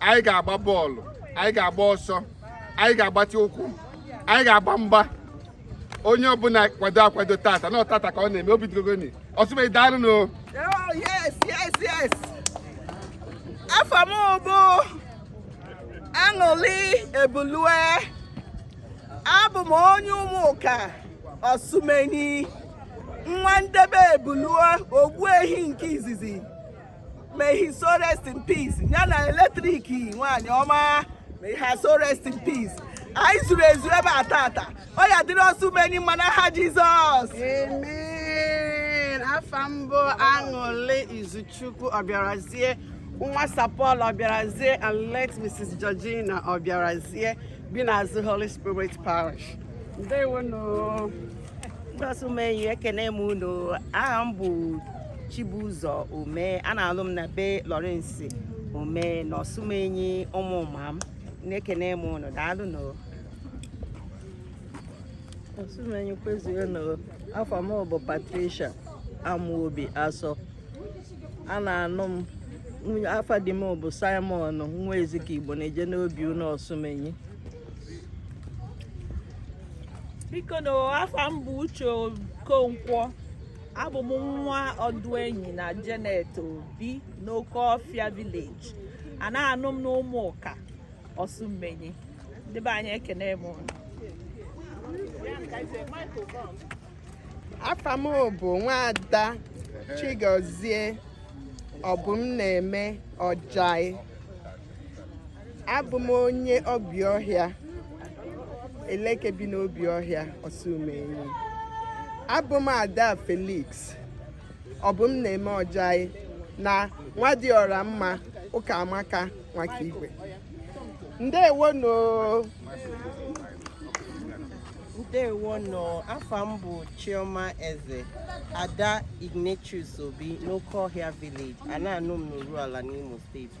anyị ga-agba bọọlụ anyị ga-agba ọsọ anyị ga-agbatị ụkwụ anyị ga-agba mgba onye ọbụla kwado akwado tata na ọtata ka ọ na-eme obi dịrogoni ọsụmenyi daalụ nụ afa m bụ aṅụli ebulue abụ m onye ụmụka ọsụmenyi nwa ndebe ebulue ogbuehi nke izizi May his soul rest in peace. Ya na eletrik nwaanyị ọma. May her soul rest in peace. Anyị zuru ezu ebe a tata. Ọ ya dịrị Ọsụmenyi mma n'aha Jizọs. Amen. Afa m bụ Aṅụlị Izuchukwu Ọbịarazie. Nwa Sir Paul Ọbịarazie and late Mrs. Georgina Ọbịarazie bi n'azụ Holy Spirit Parish. Ndewo nụ. ndị ọsụmenyi ekene m unu aha m bụ Chibuzọ Ume a na-alụ m na be Lawrence Ume na ọsụmenyi ụmụọmam na-ekene m unu daalụ nụ ọsụmenyi kwezuo nụ afa m bụ Patricia Amuobi Asọ a na-anụ m afa di m bụ Simon nwa Ezike Igbo na-eje n'obiụnọ ọsụmenyi biko nụ afa m bụ uche okonkwo abụ m nwa ọdụenyi na Janet Obi n'okeọfịa village a na-anụ m n'ụmụka ọsụmenyi ndị be anyị ekene m unu afa m bụ nwaada Chigozie Obumneme ọjai abụ m onye obiọhịa eleke bi n'obiọhịa ọsụmenyi abụ m ada felix obumneme ọjai na nwadịọramma ụkamaka nwakaigwe ndewo nụ ndewo nụ afa m bụ chioma eze ada ignatius obi n'okeọhịa village a na-anụ m n'urualla n'imo steeti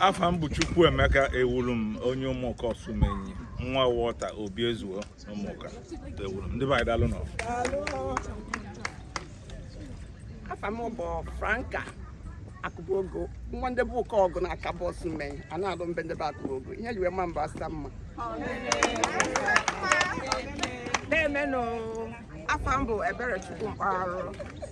afa m bụ Chukwuemeka Ewurum onye ụmụka ọsụmenyi nwa Walter Obiezuo ụmụka Ewurum ndị be anyị daalụ nụ afa m bụ Franka akụbogo nwa ndị be ụkaọgụ n'akabọ ọsụmenyi a na-alụ m be ndị be akụbogo ihe yiwe ma mba asa mma deeme nụ afa m bụ Eberechukwu Mkparụ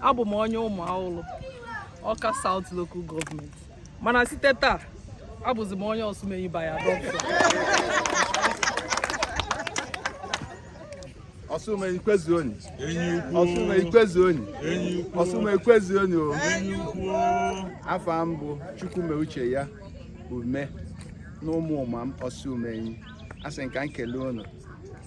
abụ m onye Ụmụawụlụ Awka South Local Government mana site taa abụzi m onye Ọsụmenyi by adoption Ọsụmenyi kwezuoni Ọsụmenyi kwezuoni Ọsụmenyi kwezuoni o afa m bụ Chukwumeucheya Ume na Ụmụọmam Ọsụmenyi asị m ka m kele unu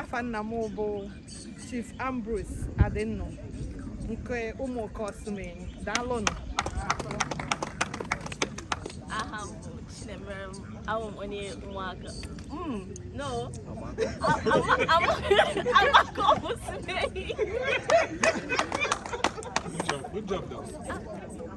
afa nna m bụ Chief Ambrose Adịnnụ nke Ụmụọka Ọsụmenyi daalụnụ aha m bụ Chinemere awụ m onye Ụmụọka hmm. no Amakọm Ọsụmenyi Good job, though.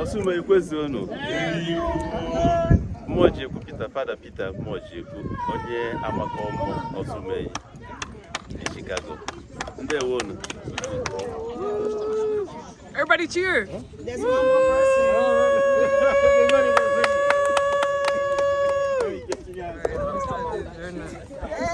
Ọsụmenyi kwezuonụ Mmụọjekwu Peter fada Peter Mmụọjekwu onye Amakọm Ọsụmenyi na Chicago ndewo unu Everybody cheer. There's one more person. Oh,